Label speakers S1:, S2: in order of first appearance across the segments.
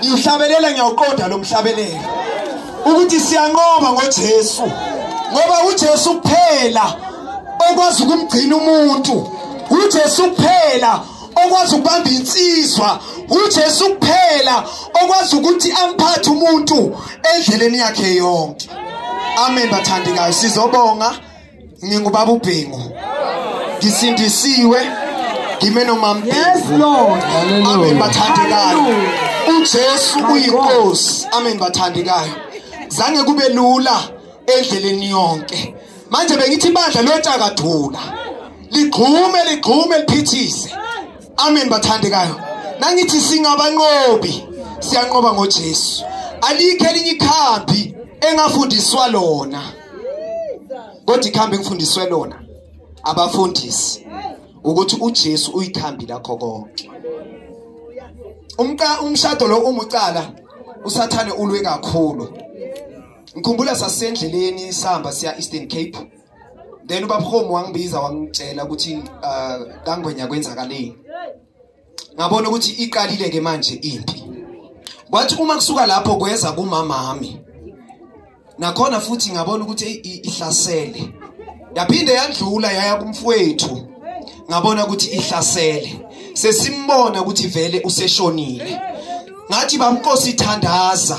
S1: ngiwuhlabelela ngiyawuqonda lo mhlabelela ukuthi siyanqoba ngoJesu ngoba uJesu kuphela okwazi ukumgcina umuntu uJesu kuphela okwazi ukubamba insizwa uJesu kuphela okwazi ukuthi amphathe umuntu endleleni yakhe yonke amen bathandekayo sizobonga ngingubaba ubhingu ngisindisiwe ngime nomamphezulu
S2: amen
S1: bathandekayo uJesu uyinkosi amen bathandekayo zange kube lula endleleni yonke manje bengithi ibandla lotshakathula ligxume ligxume liphithise amen bathandekayo nangithi singabanqobi siyanqoba ngoJesu alikho elinye ikhambi engafundiswa lona kodwa ikhambi kufundiswe lona abafundisi ukuthi uJesu uyikhambi lakho konke umqa umshado lo umucala usathane ulwe kakhulu ngikhumbula sasendleleni sihamba siya Eastern Cape then ubabhomu wangibiza wangitshela ukuthi uh, kangwenya kwenzakaleni ngabona ukuthi iqalile ke manje impi kwathi uma kusuka lapho kweza kumama wami nakhona futhi ngabona ukuthi ihlasele yaphinde yadlula yaya kumfowethu ngabona ukuthi ihlasele sesimbona ukuthi vele useshonile ngathi bamkosi thandaza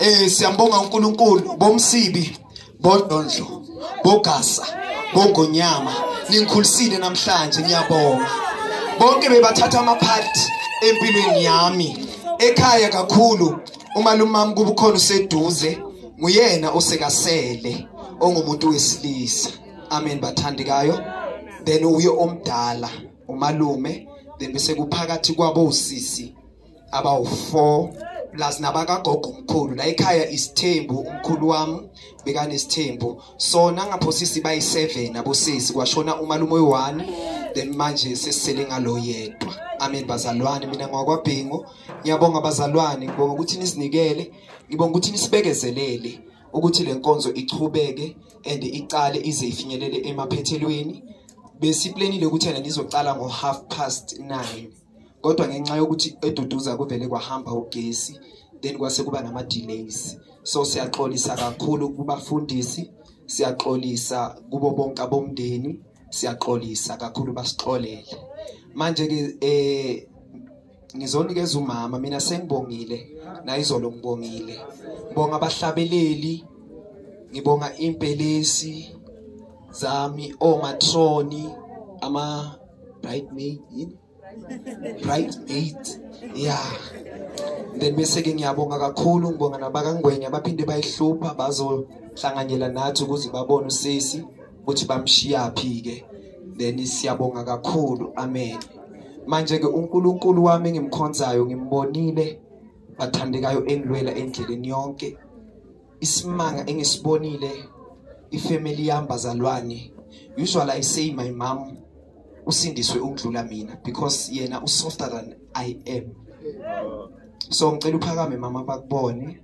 S1: Eh siyambonga uNkulunkulu bomsibi bodondlo bogasa bongonyama ningikhulisile namhlanje ngiyabonga bonke bebathatha ama part empilweni yami ekhaya kakhulu uma lumami kubukhona useduze nguyena osekasele ongumuntu wesilisa amen bathandikayo then uye omdala umalume then bese kuphakathi kwabo usisi abawu-four plus nabakagogo umkhulu la ekhaya isithembu umkhulu wami bekanesithembu so nangapho sisi bayi-seven abosisi kwashona umalume oyi-one then manje sesisele ngalo yedwa amen bazalwane mina ngwakwabhingo ngiyabonga bazalwane ngibonga ukuthi nizinikele ngibonga ukuthi nisibekezelele ukuthi le nkonzo ichubeke and iqale ize ifinyelele emaphethelweni besiplenile ukuthi yena nizocala ngo-half past nine kodwa ngenxa yokuthi eduduza kuvele kwahamba ugesi then kwase kuba nama delays so siyaxolisa kakhulu kubafundisi siyaxolisa kubo bonke abomndeni siyaxolisa kakhulu basixolele manje ke eh ngizonikeza umama mina sengibongile nayizolo ngibongile ngibonga abahlabeleli ngibonga impelesi zami omatroni ama bridemaid yini bridemaid yeah then bese ke ngiyabonga kakhulu ngibonga nabakangwenya baphinde bayihlupha bazohlanganyela nathi ukuze babone usisi ukuthi bamshiyaphi ke then siyabonga kakhulu amen manje ke uNkulunkulu wami ngimkhonzayo ngimbonile bathandekayo engilwela endleleni yonke isimanga engisibonile ifamily yami bazalwane usually i say my mom usindiswe ukudlula mina because yena usofter than i am so ngicela uphakame mama bakubone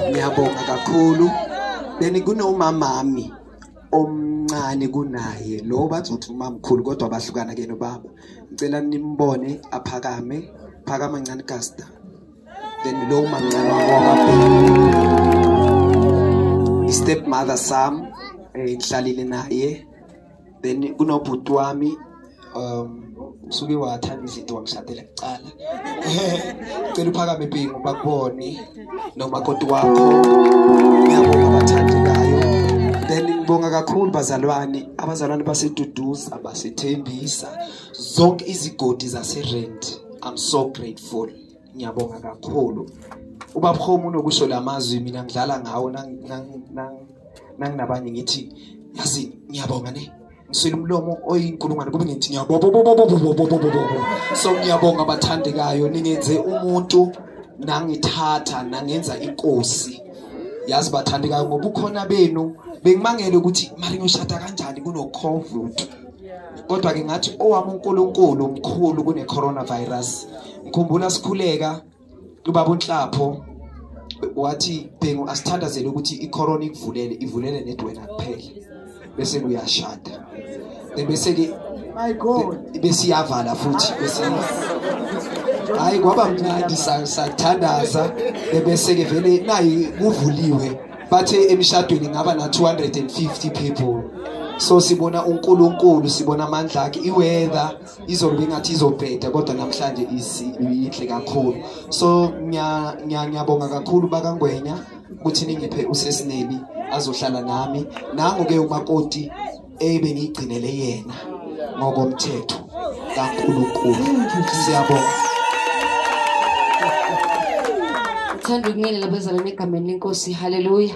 S1: ngiyabonga kakhulu benikunowumamami omncane kunaye lo bazothi umamkhulu kodwa bahlukana ke nobaba ngicela nimbone aphakame phakama ncane kasta then lo mamncane wakho step mother sam eh, ngihlalile naye then kunobhuti wami um usuke wathanda izinto wangishadela kuqala cela uphakame pingu bakubone nomakoti wakho ngiyabonga abathandekayo then ngibonga kakhulu bazalwane abazalwane baseduduza basethembisa zonke izigodi zaserent i'm so grateful ngiyabonga kakhulu ubaba Khomo unokusho lamazwi mina ngidlala ngawo nanginabanye ngithi yazi ngiyabonga ne ngiswele umlomo oyinkulungwane kube ngithi ngiyabobobobobobobobobobobo so ngiyabonga abathandekayo ningenze umuntu nangithatha nangenza inkosi yazi bathandekayo ngoba ukhona benu bengimangele ukuthi mari ngishada kanjani kunocovid kodwa ke ngathi owami uNkulunkulu mkhulu kune coronavirus ngikhumbula sikhuleka ubaba unhlapho wathi bhengu asithandazele ukuthi icorona ikuvulele ivulele nedwena kuphela bese kuyashada bese ke my god bese iyavala futhi bese hayi kwaba mnandi sathandaza bese ke vele nayi kuvuliwe bathe emshadweni ngaba na 250 people so sibona uNkulunkulu sibona amandla akhe iweather izolo ingathi izobheda kodwa namhlanje iyinhle kakhulu so ngiyabonga kakhulu bakangwenya ukuthi ningiphe usesineli azohlala nami nango-ke umakoti ebengiyigcinele yena ngokomthetho kankulunkulu siyabonga
S2: thanda ukungelela bezalwane egameni lenkosi haleluya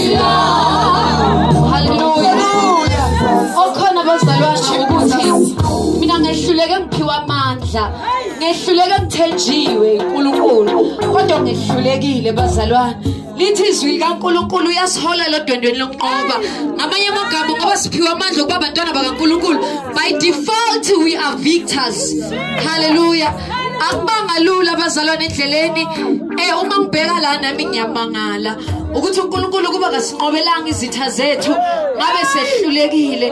S2: ngehlulekile bazalwane lithi izwi likaNkuluNkulu uyasihola lodwendweni lokunqoba ngamanye amagama ngoba siphiwe amandla okuba abantwana bakaNkuluNkulu by default we are victors hallelujah akubanga lula abazalwane endleleni eh uma ngibheka la nami ngiyamangala ukuthi uNkulunkulu kuba kasinqobelanga izitha zethu ngabe sehlulekile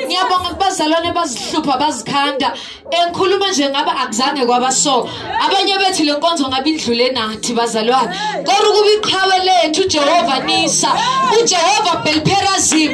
S2: ngiyabonga kubazalwane bazihlupha bazikhanda engikhuluma nje ngabe akuzange kwaba so abanye bethi le nkonzo ngabe indlule nathi bazalwane kodwa ukuba iqhawe lethu uJehova nisa uJehova belperazim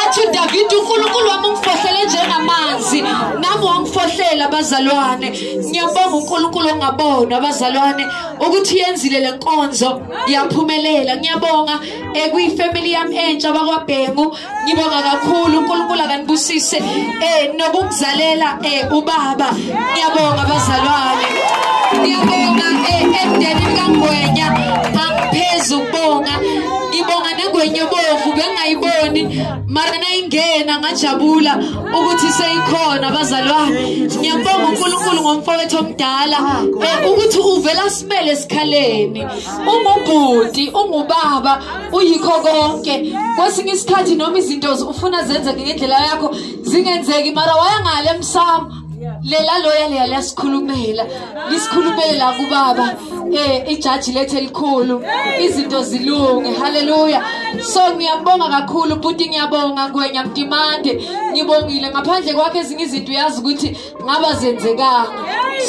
S2: athi uDavid uNkulunkulu wami ungifohlele njengamanzi nami wangifohlela bazalwane ngiyabonga uNkulunkulu ongabonwa abazalwane ukuthi yenzile lenkonzo yaphumelela ngiyabonga ekuyi eh, family yami entsha bakwabhengu ngibonga kakhulu uNkulunkulu akanibusise eh nokukuzalela eh ubaba ngiyabonga abazalwane ngiyabonga eh emndenini kaNgwenya angiphezulu ukubonga ngibonga nengwenye bovu bengayiboni mara nayingena ngajabula ukuthi seyikhona abazali bami ngiyambonga uNkulunkulu ngomfowethu omdala eh, ukuthi uvela simele esikhaleni ungubhuti ungubaba uyikho konke kwesinye isikhathi noma izinto ufuna zenzeke ngendlela yakho zingenzeki mara wayangale emsamo lela loya leya liyasikhulumela lisikhulumelela kubaba eh ijaji lethe elikhulu izinto zilunge haleluya so ngiyabonga kakhulu bhuti ngiyabonga ngwenya mdimande ngibongile ngaphandle kwakhe ezinye izinto uyazi ukuthi ngaba zenzekanga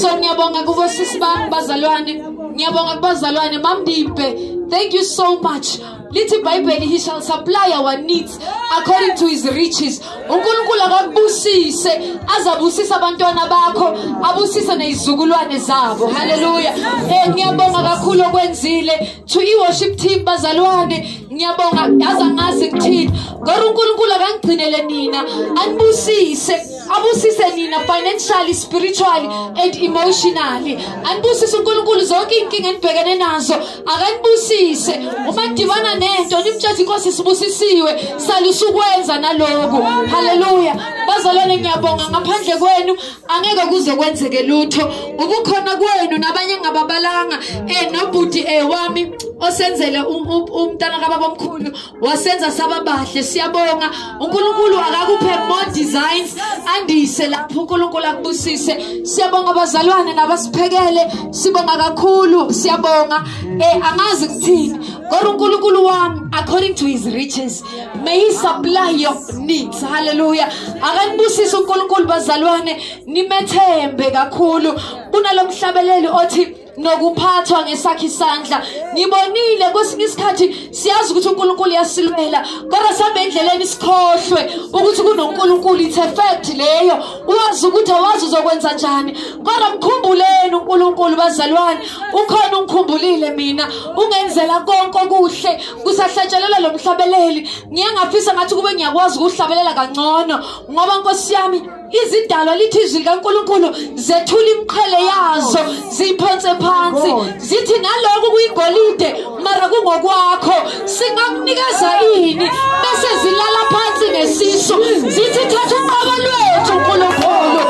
S2: so ngiyabonga kubo sisi bami bazalwane ngiyabonga kubazalwane mamdimpe thank you so much lithi ibhayibheli he shall supply our needs according to his riches unkulunkulu akakubusise azabusisa abantwana bakho abusise nezizukulwane zabo haleluya eh ngiyabonga kakhulu okwenzile to i-worship team bazalwane ngiyabonga yazi angazi ngithini kodwa unkulunkulu akangigcinele nina anibusise abusise nina financially spiritually and emotionally anibusise unkulunkulu zonke iy'nkinga enibhekene nazo akanibusise uma kudibana nento nimtshela inkosi sibusisiwe salusukwenza naloku haleluya bazalwane ngiyabonga ngaphandle kwenu angeke kuze kwenzeke lutho ubukhona kwenu nabanye ngababalanga eh nobhuti eh wami osenzele umntana kababa omkhulu wasenza sababahle siyabonga uNkulunkulu akakuphe more designs andise lapho uNkulunkulu akubusise siyabonga abazalwane nabasiphekele sibonga kakhulu siyabonga eh angazi kuthini kodwa uNkulunkulu wami according to his riches may he supply your needs hallelujah akanibusise uNkulunkulu bazalwane nimethembe kakhulu kunalomhlabeleli othi nokuphathwa ngesakhe isandla ngibonile kwesinye isikhathi siyazi ukuthi uNkulunkulu uyasilwela kodwa sambe endleleni sikhohlwe ukuthi kunoNkulunkulu it's a fact leyo uwazi ukuthi awazi uzokwenza njani kodwa mkhumbuleni uNkulunkulu bazalwane ukhona ungikhumbulile mina ungenzela konke okuhle kusahlatshelela lomhlabeleli ngiye ngafisa ngathi kube ngiyakwazi ukuhlabelela kangcono ngoba nkosi yami izidalwa lithi izwi likaNkuluNkulu zethula imqhele yazo ziphonse phansi zithi naloku kuyigolide mara kungokwakho singakunikeza ini bese zilala phansi ngesisu zithi thatha uqobo lwethu uNkulunkulu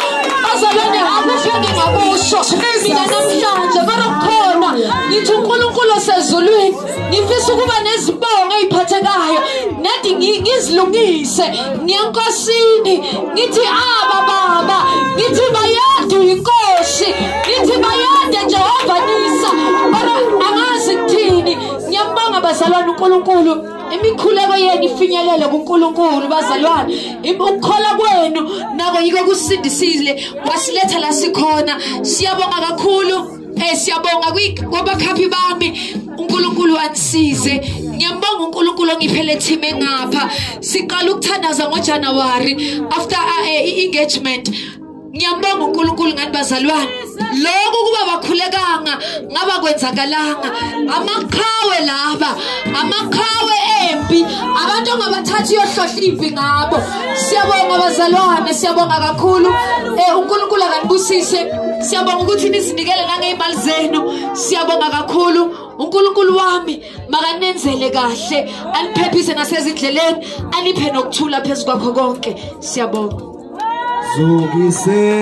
S2: bazalwane akukho ngingakusho mina namhlanje mara kukhona ngithi uNkulunkulu osezulwini ngifisa ukuba nezibongo eziphathekayo nathi ngizilungise ngiyankosini ngithi aba baba ngithi bayadu inkosi ngithi bayade Jehova nisa baba angazi kuthini ngiyambonga bazalwane uNkulunkulu imikhuleko yenu ifinyelele kuNkulunkulu bazalwane ukukhola kwenu nako yiko kusindisile wasiletha la sikhona siyabonga kakhulu Eh siyabonga kwabakhaphi bami uNkulunkulu anisize ngiyambonga uNkulunkulu ongiphele team engapha siqala ukuthandaza ngoJanuary after uh, eh, engagement ngiyambonga uNkulunkulu ngani bazalwane lokho kuba bakhulekanga ngaba kwenzakalanga amaqhawe laba amaqhawe empi abantu ongabathathi yohlohla impi ngabo siyabonga bazalwane siyabonga kakhulu eh uNkulunkulu akanibusise Siyabonga ukuthi nizinikele nangeyimali zenu. Siyabonga kakhulu. uNkulunkulu wami makanenzele kahle aniphephise nasezindleleni aniphe nokuthula phezu kwakho konke siyabonga Zukise